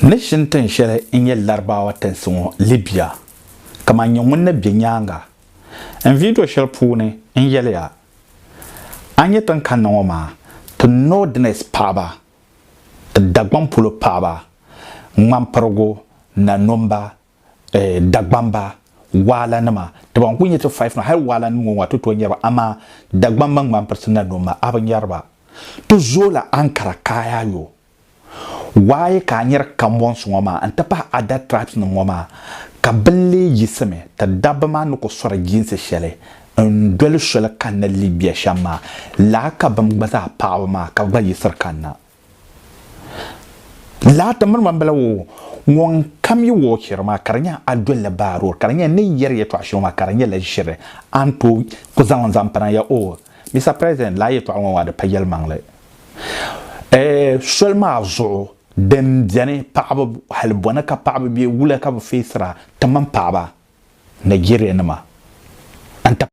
Ni shini tin shɛli n-nyɛ Larabawa tinsi ŋɔ Libya, kaman nyɛ ŋun ni be nyaaŋa n vidio shɛli puuni n-yɛliya, a ni nyɛ tin kanna ŋɔ maa, ti Northerners paɣiba, ti Dagbaŋ polo paɣiba, ŋmampirigu, nanɔmba, eh, Dagbamba, waalanima, ti ban kuli nyɛ ti five maa, hali waalanim ŋɔ ŋɔ ti tooi nyɛba, amaa Dagbamba ŋmanpirisi na noma a bi nyɛriba. Ti zooi la Ankara kaaya yo. Waaye ka a nyɛri Kambons ŋɔ maa n-ti pahi Ada tribes nim ŋɔ maa, ka bini lee yiɣisimi ti dabba maa ni ku sɔri jiinsi shɛli n-doli soli kanna Libya shɛm maa, laa ka bim gba zaa paɣaba maa ka gba yiɣisiri kanna. Laa ti miri ma m-bala o ŋun kam yi wɔɔ chɛri ma ka di nyɛ a dolila baaror ka di nyɛ n ni yɛri yɛtɔɣ shɛŋa maa ka di nyɛla ʒiri a ni tooi ku zaŋ n zaŋ pina ya o. Mister President, laa yɛtɔɣ ŋɔ maa di pa yɛlimaŋli. Ɛɛh soli maa zuɣu din beni paɣaba hali bɔni ka paɣaba be wula ka bi feesira ti mini paɣaba Nigeria nima n-ti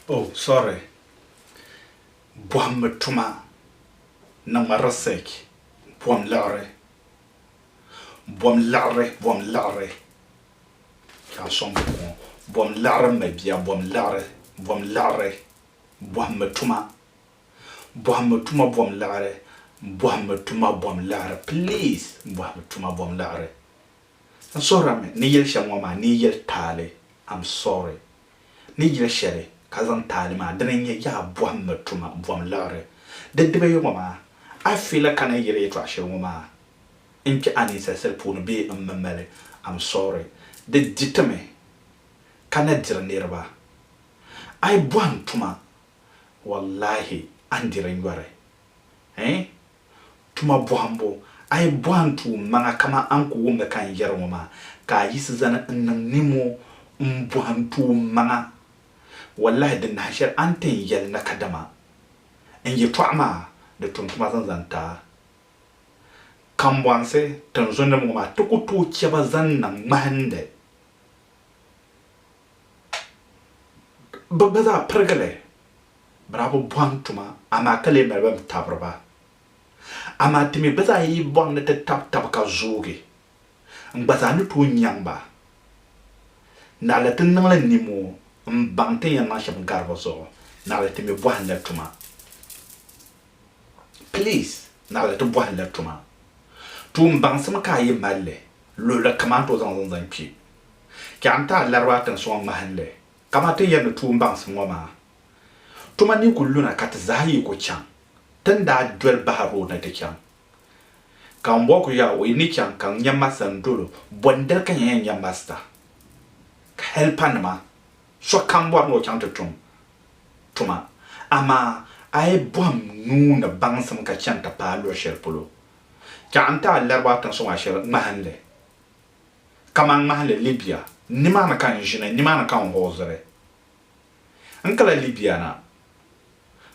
Oh, sorry. Bɔhimbu tuma niŋmi research bɔhim liɣiri bɔhim liɣiri bɔhim liɣiri ka n sɔŋ buku ŋɔ bɔhim liɣiri m ma bia bɔhim liɣiri bɔhim liɣiri bɔhimbu tuma Bɔhimmi tuma bom liɣiri Bɔhimmi tuma bom liɣiri please Bɔhimmi tuma bom liɣiri N suhirimi ni yɛli shɛm ŋɔ maa ni yi yɛli taali I'm sorry Ni yɛli shɛli ka zaŋ taali maa dini n nyɛ Yaa bɔhimmi tuma bom liɣiri Di dibiyi ŋɔ maa a fila ka ni yɛli yɛtɔɣ shɛli ŋɔ maa n kpɛ a ninsalisili puuni bee m mi mali I'm sorry Di di ti mi ka na diri niriba A yi bɔhim tuma Wallahi a ni diri nyɔri eh? Tuma bɔhimbu, a yi bɔhi n tuum maŋa kaman a ni ku wumdi ka n yɛri ŋɔ maa, ka a yiɣisi zani n niŋ nimo m-bɔhi n tuum maŋa, wallahi di nahi shɛli a ni ti n yɛli na kadama n yɛtɔɣa maa di tum tuma zaŋ zani ti a. Kambɔnsi tinzundiba ŋɔ maa ti ku tooi chɛ ba zaŋ niŋ ŋmahindi. bɛ gba zaa pirigi li, bɛ daa bi bɔhim tuma amaa ka lee mali bɛn tabiri ba. Amaa ti mi gba zaa yi bɔhim ni ti tab tab ka zoogi, n gba zaa ni tooi nyaŋ ba. Naɣila ti niŋ li nimoo m-baŋ ti ni yɛn niŋ shɛm gari bɛ zuɣu, naɣila ti mi bɔhim la tuma. Please, naɣila ti bɔhim la tuma. Tuumbaŋsim ka a yi mali li. luɣili kam a ni tooi zaŋ ŋun zaŋ kpe. Ka n taai laribaa tiŋsi ŋɔ ŋmahinli, kaman ti ni yɛri ni tuun baŋsim ŋɔ maa. Tuma ni ku luna ka ti zaa yi ku chaŋ, ti ni daa doli bahi rood ni ti chaŋ. Ka ŋun bɔŋɔ ku yɛl a, O yi ni chaŋ ka n nya masta n dol o, bɔ n-diri ka nya yɛn nya masta? Ka hɛlipanima, sokam bɔri ni o chaŋ ti tum tuma, amaa a yi bɔhim nuu ni baŋsim ka chani ti paai luɣ shɛli polo, Chɛɣu n-ti a lariba tiŋ suŋ a shɛli ŋmahinli, kaman ŋmahinli Libia, nimaani ka n ʒini, nimaani ka n hooziri. N kala Libia na,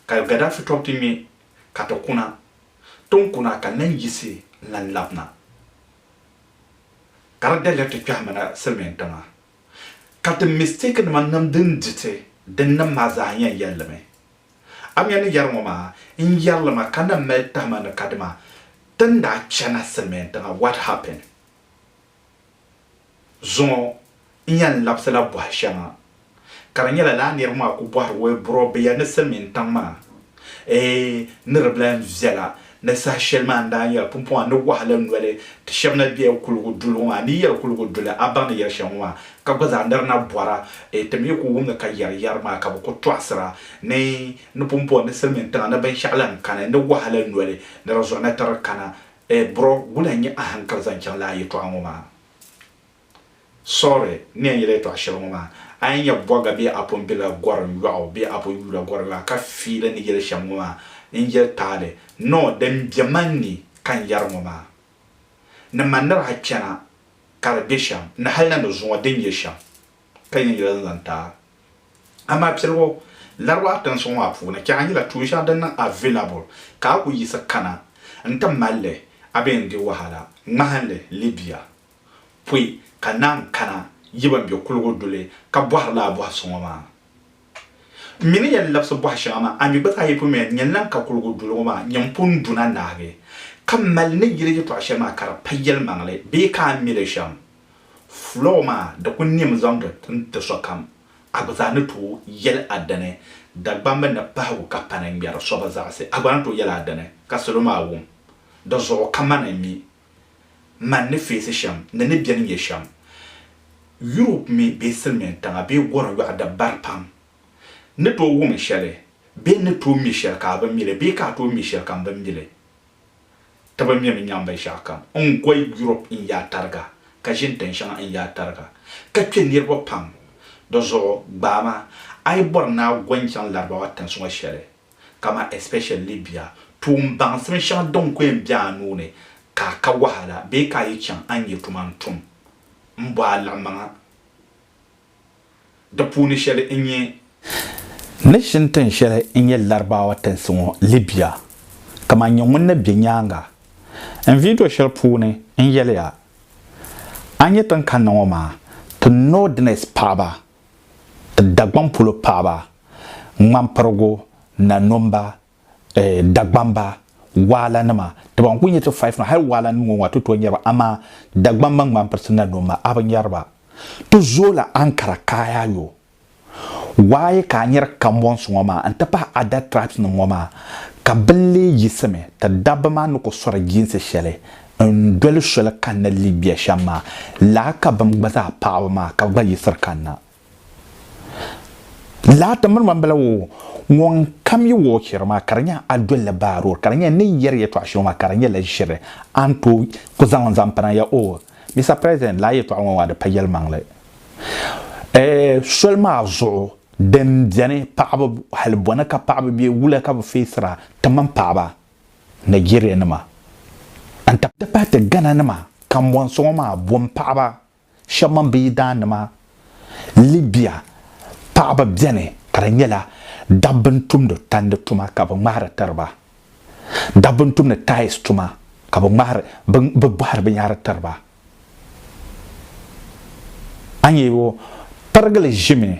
ka Gaddafi tɔbu ti ŋme, ka ti kuna. Ti ni kuna ka n lan yiɣisi n-lan labina, ka di daliri ti kpɛhimina silimiin tiŋa. Ka ti mistake nima nam din di ti din niŋ maa zaa yɛn yɛli mi. Amiya ni yɛri ŋɔ maa, n yɛri li ma ka na mali tahima ni kadima ti ni daa chana Silimiin tiŋa what happened? Zuŋɔ n yɛn labisi la bɔhi shɛŋa ka di nyɛla lala niriba maa ku bɔhiri wee buro bɛ ya ni Silimiin tiŋ maa eeh ni di bi lahi viɛla Ni saha shɛli maa n daa nyɛla pumpɔŋɔ ni wahala noli ti shɛba na bela kuligu duli ŋɔ maa ni yɛri kuligu duli a baŋ ni yɛri shɛli ŋɔ maa ka gba zaa niri na bɔra e ti mi ku wummi ka yɛri yɛri maa ka bi ku tɔɣisira ni ni pumpɔŋɔ ni silimin tiŋa ni binshɛɣu lan kani ni wahala noli ni di zuɣu na tiri kana e bro wula n nyɛ a hankali zaŋ chaŋ laa yɛtɔɣa ŋɔ maa? Sorry ni yɛn yɛli yɛtɔɣ shɛli ŋɔ maa. A yɛn nya bɔga bee a pun bela gɔrim yɔɣu bee a pun yuula gɔrim yɔɣu ka fiili ni yɛli shɛm ŋɔ maa n-yɛli taali ni o din be man ni ka n yɛri ŋɔ maa ni man ni daa chana ka di be shɛm ni hal na ni zuŋɔ din nyɛ shɛm ka yɛn yɛla n-zaŋ ti a. Amaa piligu Laribaɣa tinsi ŋɔ maa puuni chɛha nyɛla tuun shɛŋa din niŋ available ka a ku yiɣisi kana n-ti mal li a bee n-di wahala ŋmahinli Libya. pɔi ka naan kana yi ban be kuligu duli ka bɔhirila a bɔhi so ŋɔ maa. M mi ni yɛn labisi bɔhi shɛŋa maa, a mi gba zaa yi pun mi a ni yɛn lan ka kuligu duli ŋɔ maa, nyam pun du na nahigu ka m mali ni yili yɛtɔɣ shɛli maa ka di pa yɛlimaŋli bee ka a mi li shɛm. Fulɔɔ maa di ku nɛmi zaŋdi n-ti sokam, a gba zaa ni tooi yɛli a dini. Dagbamba ni pahigu ka pani ŋmɛri so bi zaɣisi, a gba ni tooi yɛli a dini ka salo maa wum di zuɣu ka mani mi man ni feesi shɛm ni ni beni nyɛ shɛm, Europe mi bee silimiin tiŋa bee gorim yɔɣu di bari pam ni tooi wumi shɛli bee ni tooi mi shɛli ka a bi mi li bee ka a tooi mi shɛli ka m bi mi li. Ti bi mimi nyaŋ binshɛɣu kam. N gɔi Europe n yaa tariga ka ʒini tin shɛŋa n yaa tariga ka kpe niriba pam. Di zuɣu gbaai ma a yi bɔri ni a gɔi n chaŋ Larabawa tinsi ŋɔ shɛli kaman especially Libya, tuun baŋsim shɛŋa din ku yɛn be a nuu ni ka a ka wahala bee ka a yi chaŋ a ni nyɛ tuma n-tum, m-bɔ a liɣimaŋa. Di puuni shɛli n-nyɛ. Nation tin shɛli n-nyɛ Larabawa tinsi ŋɔ, Libya, kaman nyɛ ŋun ni be nyaaŋa n video shɛli puuni n yɛliya, a ni nyɛ tin kanna ŋɔ maa, ti Northerners paɣiba Dagbaŋ polo paɣaba, ŋmampirigu, nanumba, eh, Dagbamba, waalanima, ti ban kuli nyɛ ti five maa, hali waalanim ŋɔ ŋɔ a ti tooi nyari ba, amaa Dagbamba, ŋmampirisi, nanumba, a bi nyari ba. Ti zooi la Ankara kaayaayɔ. Waaye ka a nyari Kambɔnsi ŋɔ maa n-ti pahi Ada tribes nim ŋɔ maa, ka bini lee yiɣisimi ti dabba maa ni ku sɔri jiinsi shɛli N doli soli kanna Libya shɛm maa, lala ka bɛm gba zaa paɣiba maa ka gba yiɣisiri kanna. Lala ti miri ma m-bala woo, ŋun kam yi wuɣi chɛri maa ka di nyɛ a dolila baa road ka di nyɛ n ni yɛri yɛtɔɣ shɛŋa maa ka di nyɛla ʒiri a ni tooi ku zaŋ li zaŋ pina ya oo. Mister President, lala yɛtɔɣ ŋɔ maa di pa yɛlimaŋli. Eeh, soli maa zuɣu din beni paɣiba hali bɔna ka paɣiba be wula ka bɛ feesira ti mini paɣiba Nigeria nima n ti pahi ti Ghana nima kambɔnsoŋɔ maa bom paɣaba shɛba mini bɛ yidaan nima Libya paɣaba beni ka di nyɛla dabba n tumdi tandi tuma ka bɛ ŋmahiri tiriba dabba n tumdi tiles tuma ka bɛ ŋmahiri bɛ bɔhiri binyahiri tiriba. a ni yɛbo pirigili ʒimi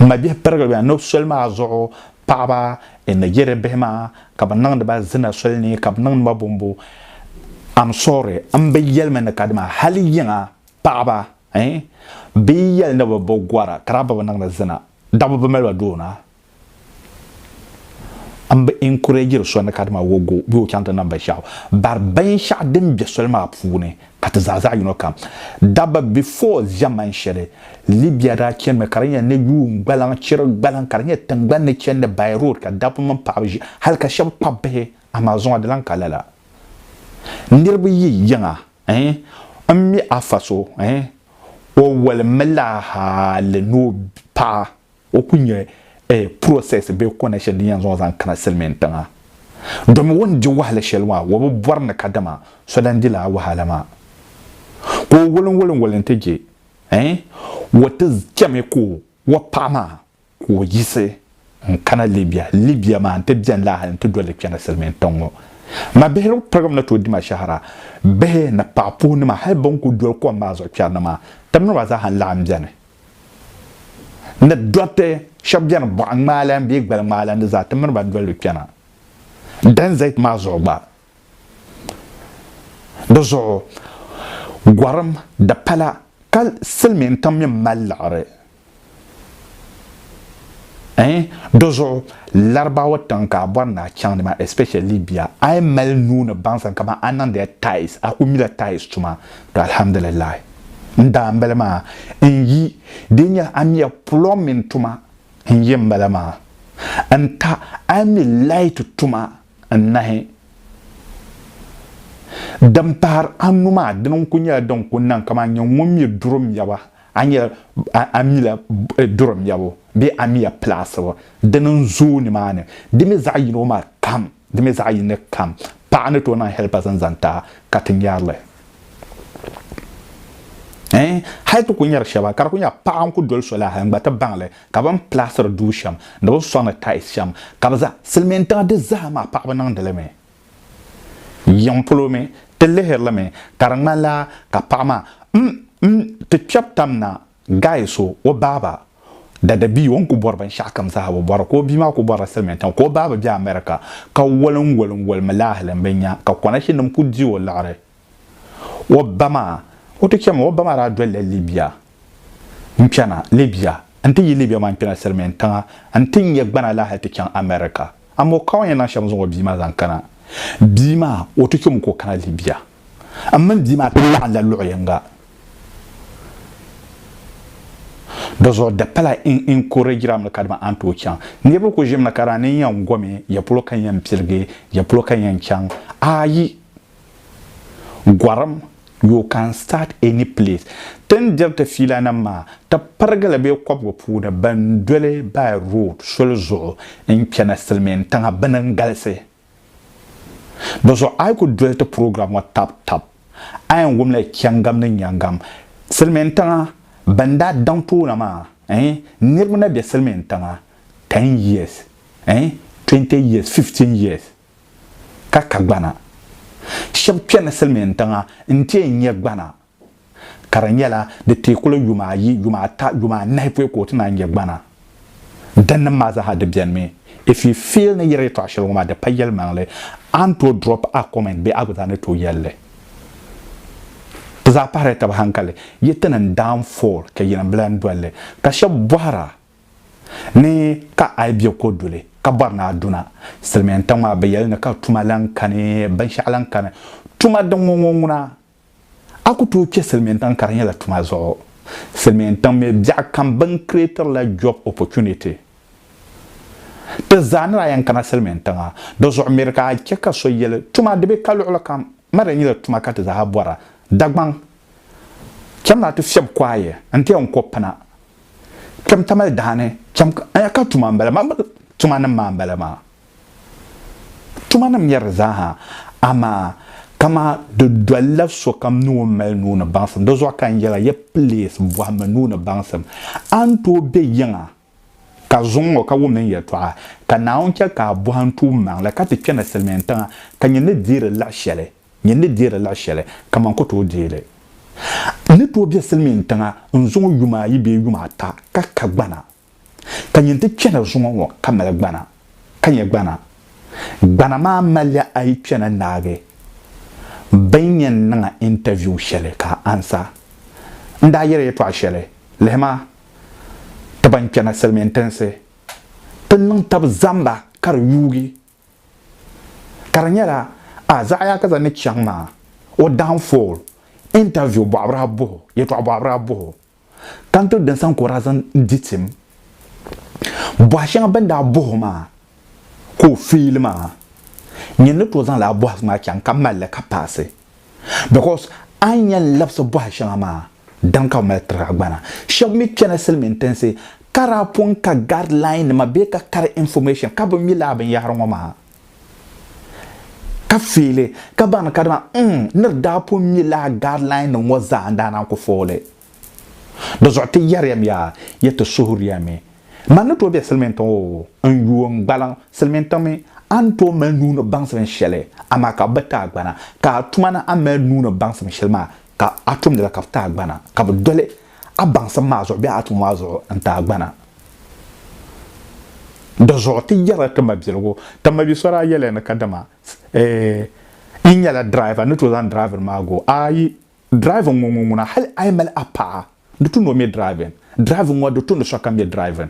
n ma bihi pirigili maa nubu soli maa zuɣu paɣaba n ni yɛ di bihi maa ka bi niŋdi ba zina soli ni ka bi niŋdi ba bombo am sorry n bi yɛlimi ni ka dima hali yiŋa paɣaba eh bi yi yɛli ni bi bi gora ka daa bi bi niŋdi zina dabba bi mali ba doona N bi encouragiri so ni kadama o go bee o chaŋ ti nam binshɛɣu, bari binshɛɣu din be soli maa puuni ka ti zaa zaɣ yino kam. Dabba before ʒɛman shɛli, Libya daa chanimi ka di nyɛla ni yuun gbaliŋ chiri gbaliŋ ka di nyɛ tiŋgbani ni chani ni by road ka dabba mini paɣaba ʒi hali ka shɛba kpabi bihi amaa zuŋɔ di lan ka lala. Niriba yi yiŋa eh n mi afa so eh o wolimi la hali ni o paɣa. O ku nyɛ process bee kɔna shɛli din yɛn zaŋ o zaŋ kana silimiin tiŋa domi o ni di wahala shɛli maa o bi bɔri ni kadama so lan di lala wahala maa ka o woliŋwoliŋwoli nti je eh o ti chɛmi ka o paɣa maa ka o yiɣisi n-kana Libya. Libya maa nti beni la hali nti doli kpɛna silimiin tiŋ ŋɔ. Ma bihi di pirigim ni tooi di ma shɛhira. Bihi ni paɣa puhi nima hali bɛn kuli doli kom maa zuɣu kpɛri ni maa, tibnima zaaha n-laɣim beni. ni dɔriti shɛba beni bɔɣ ŋmaalan bee gbal ŋmaalan di zaa ti miri ba doli kpɛna Dan Zayt maa zuɣu gba. Di zuɣu gɔrim di pala ka silimiin kam mi mali liɣiri ɛɛn di zuɣu Larabawa tiŋ ka a bɔri ni a chaŋdi maa especially Libya a yi mali nuu ni baŋsim kamani a niŋdila tiles a kuli mila tiles tuma to alhamdulillahi. n daa n bala maa n yi dee nya amia pulɔŋ mini tuma n yi n bala maa n ta ami light tuma n nahi din pahiri anu maa dini n ku nyɛla din ku niŋ kaman nyɛ ŋun mi duri mɛbu a nyɛla amila duri mɛbu bee amia pilaasibu dini n zooi nimaani di mi zaɣi yino maa kam Di mi zaɣ yini kam paɣa ni tooi niŋ helpers n zaŋ ti a ka ti nyarili. Ɛɛn hali ti ku nyari shɛba ka di ku nya paɣa n ku doli so la hali n gba ti baŋli ka bini plaasiri duu shɛm ni bini sɔŋ ni tiles shɛm ka bi za silimiin tiŋa di zaa maa paɣaba niŋdi li mi. Yiŋ polo mi ti lihiri li mi ka di ŋmanila ka paɣa maa m m ti kpɛb tam na Guy so o baaba dada bia o ni ku bɔri binshɛɣukam zaa bi bɔra ka o bia maa ku bɔrila silimiintiŋa ka o baaba be America ka walinwalinwalimi laahali m-bi nya ka konashinim ku di o liɣiri o ba maa o ti chɛmi o ba maa daa dolila Libya n-kpɛna Libya n-ti yi Libya maa n-kpɛna silimiintiŋa n-ti nya gbana laahali ti chaŋ America amaa o ka o ni yɛn niŋ shɛm zaŋ o bia maa zaŋ kana bia maa o ti chɛmi ka o kana Libya. M mini bia maa ti laɣimla luɣ yiŋga. Di zuɣu di pala n encouragera mi ka di mi a ni tooi chaŋ. Niriba kuli ʒimi na ka daa ni n yɛn gomi, ya polo ka n yɛn piligi, ya polo ka n yɛn chaŋ. Ayi! Gɔrim, you can start any place. Ti ni diri ti fiilanima maa, ti pirigi li bɛ kɔbigu puuni, bɛn doli by road, soli zuɣu, n-chana Silimiintiŋa, bɛ ni n-galisi. Di zuɣu a yi ku doli ti program ŋɔ tab tab, a yɛn wumla yi chɛŋgam ni nyɛŋgam. Silimiin tiŋa bɛn daa daŋ toona maa, ɛɛn, niriba na be silimiin tiŋa ten years, ɛɛn, twenty years, fifteen years ka ka gbana. Shɛba kpɛrila silimiin tiŋa n-ti yɛn nya gbana. ka di nyɛla di teekuli yuma ayi, yuma ata, yuma anahi pɔi ka o ti naan nya gbana. Dinnim maa zaaha di bɛnimi. If you feel ni yiri yɛtɔɣa shɛli ŋɔ maa di pa yɛlimaŋli, a ni tooi drop a comment bee a gba zaa ni tooi yɛli li. Di zaa pahirila taba hankali. Yi ti niŋ downfall ka yinim bila n-doli li. Ka shɛba bɔhira ni ka a yi be ko duli ka bɔri ni a duna silimiintiŋ maa bɛ yɛli ni ka tuma lahi kani, binshɛɣu lahi kani. Tuma din ŋɔ ŋɔ ŋuna. A ku tooi kpe silimiintiŋ ka di nyɛla tuma zuɣu. Silimiintiŋ mi biɛɣu kam bɛ ni creatiri la job opportunity. Ti zaa ni daa yɛn kana silimiintiŋa di zuɣu miri ka a chɛ ka so yɛli tuma di be ka luɣili kam ma di nyɛla tuma ka ti zaa bɔra. Dagbaŋ cham na ti fiɛbi kuaye n-ti yɛn ko pina. Kpɛm tamali daani cham ka tuma m-bala maa tuma nim maa m-bala maa. Tuma ni mɛri zaaha, amaa kaman di dolila sokam ni o mali nuu ni baŋsim. Di zuɣu ka n yɛli a, yi pilees bɔhimmi nuu ni baŋsim, a ni tooi be yiŋa ka zuŋ o ka wumdi n yɛtɔɣa, ka Naawuni chɛ ka a bɔhi n tuum maŋ la, ka ti kpe na silimiintiŋa, ka nyin ni deei di laɣ shɛli, nyin ni deei di laɣ shɛli kaman n ku tooi deei li. N ni tooi be silimiintiŋa n-zuŋ yuma ayi bee yuma ata ka kagbana. ka nyin ti kpɛna zuŋɔ ŋɔ ka mali gbana, ka nyɛ gbana. Gbana maa malila a yi kpɛna naagi bɛ ni yɛn niŋ a interview shɛli ka a ansa. N daa yɛli yɛtɔɣ shɛli, Lihi ma, ti ban kpɛna Silimiin Tinsi, ti niŋ tab zaŋ ba ka di yuugi. Ka di nyɛla a Zaɣiyaakaza ni chaŋ maa, o downfall, interview bɔɣibira buhi o, yɛtɔɣ bɔɣibira buhi o. ka n ti dɔnsa n kɔra zaŋ di tim. Bɔha shɛŋa bɛn daa bɔh o maa ka o feeli maa, nyini ni tooi zaŋ lala bɔhisi maa chaŋ ka mali li ka paasi because a ni yɛn labisi bɔha shɛŋa maa dini ka bɛ mali tiri a gbana. Shɛba mi kpɛla silimiintinsi ka daa pun ka guideline nima bee ka kari information ka bɛ mi lala binyɛhiri ŋɔ maa. Ka fiili ka baŋ ka dama n ni di daa pun mi lala guideline nim ŋɔ zaa n daa niŋ ku fooli. Di zuɣu ti yɛri ya mi yaa ya ti suhuri ya mi man ni tooi be silimiin tiŋ oo n yuui n gbaliŋ silimiin tiŋ mi a ni tooi mali nuu ni baŋsi binshɛli amaa ka bɛ ti a gbana ka a tuma ni a mali nuu ni baŋsi binshɛli maa ka a tumdila ka bɛ ti a gbana, ka bɛ doli a baŋsim maa zuɣu bee a tumo maa zuɣu n-ti a gbana. Di zuɣu ti yɛrila ti mabiligu, Ti mabi so daa yɛliya ni kadama n nyɛla diraiva ni tooi zaŋ diraivinima maa go a, ayi, diraiva ŋɔ ŋun ŋuna hali a yi mali a paɣa. Di tumdi o mi driving. Driving ŋɔ di tumdi sokam mi driving.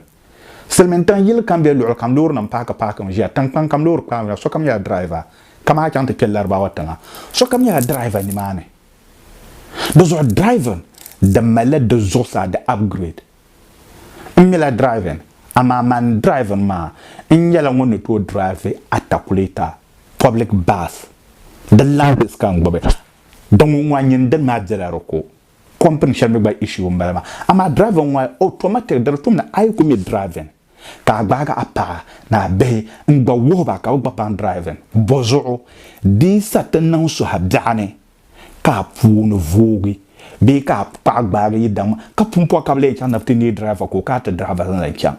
Silimiintiŋ yili kam bee luɣili kam loorinima paaki paaki mi ʒiya. Tiŋkpaŋ kam loori kpaami ʒiya. Sokam nyɛla driver kaman a chaŋ ti kpe Laribawa tiŋa sokam nyɛla driver nimaani. Dizuɣu driving di malila di zuɣusaa di upgrade. N mila driving amaa man driving maa n nyɛla ŋun ni tooi drive atakulɛta, public bus. Di ladies ka n gbubi. Din ŋun ŋɔ a nyini dini maa bela di ko. Company shɛli mi gba issue m-bala maa. Amaa driving ŋɔ maa automatic di di tum ni a yi ku mi driving ka a gbaagi a paɣa ni a bihi n-gba wuhi ba ka bɛ gba paŋ driving. Bɔzuɣu di yi sa ti niŋ so a biɛɣu ni ka a puuni voogi bee ka a paɣa gbaagi yi daŋ ma ka pumpɔɣu ka bɛ lee chaŋ ni bɛ ti neei driver ka o kana ti driver zaŋ li chaŋ.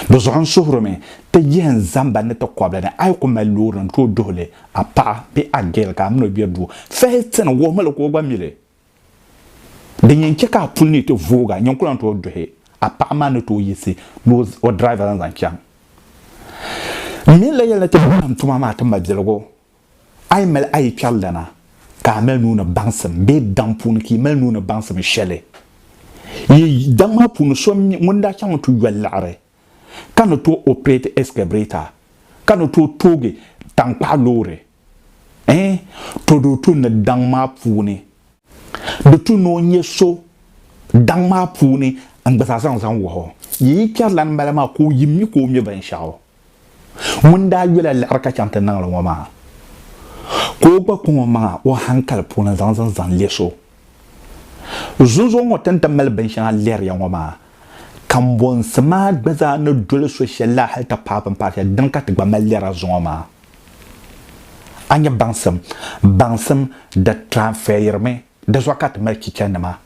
Di zuɣu n suhirimi ti yihi n zamba ni ti kɔbili ni a yi ku mali loori n tooi duhi li a paɣa bee a girl ka a min o bɛ duu fahii ti ni wuhimi li ka o gba mi li. Din yɛn chɛ ka a puli ni ti voog a nyin ku lan tooi duhi a paɣa maa ni tooi yiɣisi ni o driver zaŋ chaŋ. N mi n la yɛli ni ti baŋ tuma maa ti mabiligu. A yi mali a yi kpɛri lana, ka a mali nuu ni baŋsim bee daŋ puuni ka yi mali nuu ni baŋsim shɛli yi daŋ maa puuni so ŋun daa chaŋ n-tu yoli liɣiri ka ni tooi operate excavator, ka ni tooi toogi taŋkpaɣu loori, ɛɛn, to di o tu ni daŋ maa puuni. Di tu ni o nya so daŋ maa puuni n-gba zaa zaŋ zaŋ wahi o. Yi yi kpɛri lani mali maa ka o yi mi ka o ŋme binshɛɣu. ŋun daa yola liɣiri ka chaŋ ti niŋ li ŋɔ maa, ka o gba kɔŋ o maŋa o hankali puuni zaŋ zin zaŋ lɛ so. Zunzuɣu ŋɔ ti ni ti mali binshɛŋa lɛri ya ŋɔ maa, kambonsi maa gba zaa ni doli so shɛli la hali ti paai bimpaɣa shɛli din ka ti gba mali lɛra zuŋɔ maa. A nya baŋsim, baŋsim di tiranfɛyirimi, di zuɣu ka ti mali chichanima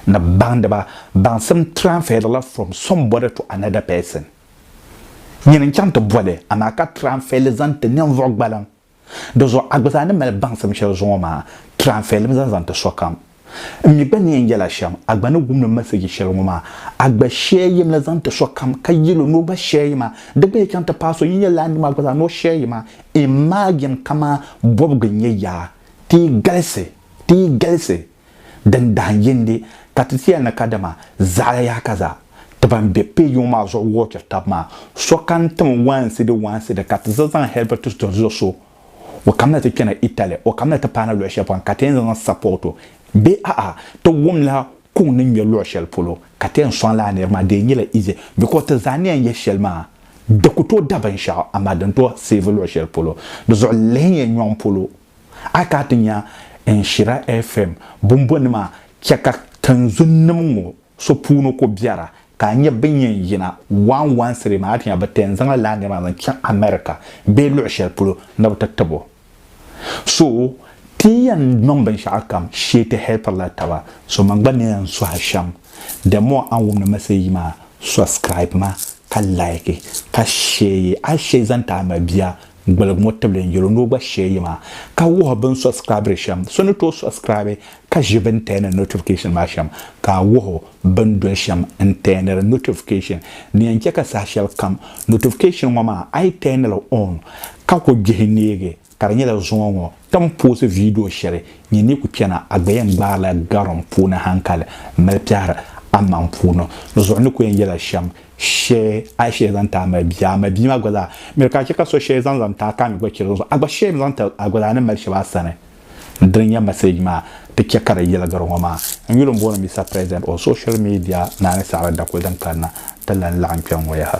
ni baŋdiba. Baŋsim tiranfɛyirila from somebody to another person. Nyini n chaŋ ti boli, amaa ka tiranfɛli zaŋ ti ninvuɣ gbaliŋ. Di zuɣu a gba zaa ni mali baŋsim shɛli zuŋɔ maa, tiranfɛli mi zaŋ zaŋ ti sokam. N mi gba ni yɛn yɛla shɛm, a gba ni gumdi m mɛsiji shɛli ŋɔ maa, a gba shɛɛyim li zaŋ ti sokam, ka yɛl o ni o gba shɛɛyi ma. Di gba yi chaŋ ti paai so, yi yɛl li a ni mi a gba zaa ni o shɛɛyi ma. Imagine kaman bɔbigu n-nyɛ yaa! Ti yi galisi! Ti yi galisi! Din dahin yindi ka ti ti ya ni kadama zaɣili yaha ka zaa ti ban be pay yuŋ maa zuɣu wuɣitiri tab maa, sokam tim waansidi waansidi ka ti za zaŋ Helvetus doli zuɣu so o kam ni ti kpɛna Italy, o kam ni ti paana luɣi shɛli polo ka ti yɛn zaŋ zaŋ support o bee a'a ti wumla ka o ni ŋmɛ luɣi shɛli polo ka ti yɛn sɔŋ lala niri maa di yɛn nyɛla easy because ti zaa ni yɛn yɛli shɛli maa di ku tooi da binshɛɣu amaa din tooi save luɣi shɛli polo di zuɣu lihi n yɛn nyɔŋ polo. A yi kana ti nya Nhyira FM bumbɔni maa, chɛ ka tinzunnim ŋɔ so puuni ku biɛra ka a nya bɛ ni yɛn yina waanwansiri maa, a ti nya bɛ ti yɛn zaŋla lala nir maa zaŋ chaŋ America bee luɣ shɛli polo ni bɛ ti tib o. So ti ni yɛn niŋ binshɛɣukam shee ti hɛlpirila taba. So man gba ni yɛn sɔhi shɛm, the more a ni wumdi Message yi maa, subscribe ma ka like ka share yi. A yi share yi zaŋ ti a mabia Gbiligi ŋɔ tibili n yɛlo ni o gba share yi maa ka wuhi bini subscribiri shɛm. So ni tooi subscribe ka ʒi bini tɛɛniri notification maa shɛm ka a wuhi o bini doli shɛm n tɛɛniri notification. Di yɛn chɛ ka saha shɛli kam notification ŋɔ maa a yi tɛɛni li on ka ku gbihi neegi ka di nyɛla zuŋɔ ŋɔ ti ni poosi video shɛli nyɛ ni ku kpɛna a gba yɛn gbaai la garim puuni hankali mali kpɛhiri a maŋ puuni. Di zuɣu ni ku yɛn yɛla shɛm Shɛ a yi shee zaŋ ti a malibihi, a malibihi maa gba zaa mi di ka a chɛ ka so shɛli zaŋ zaŋ ti a ka a mi gba chɛli o zuɣu. A gba shee mi zaŋ ti a gba zaa ni mali shɛba a sani. N dini n-nyɛ message maa ti chɛ ka di yiligiri ŋɔ maa. N yuli m-booni Mister President on social media Naani Saɣiri Dakuli din kanna ti lan laɣim kpɛŋ ŋɔ yaha.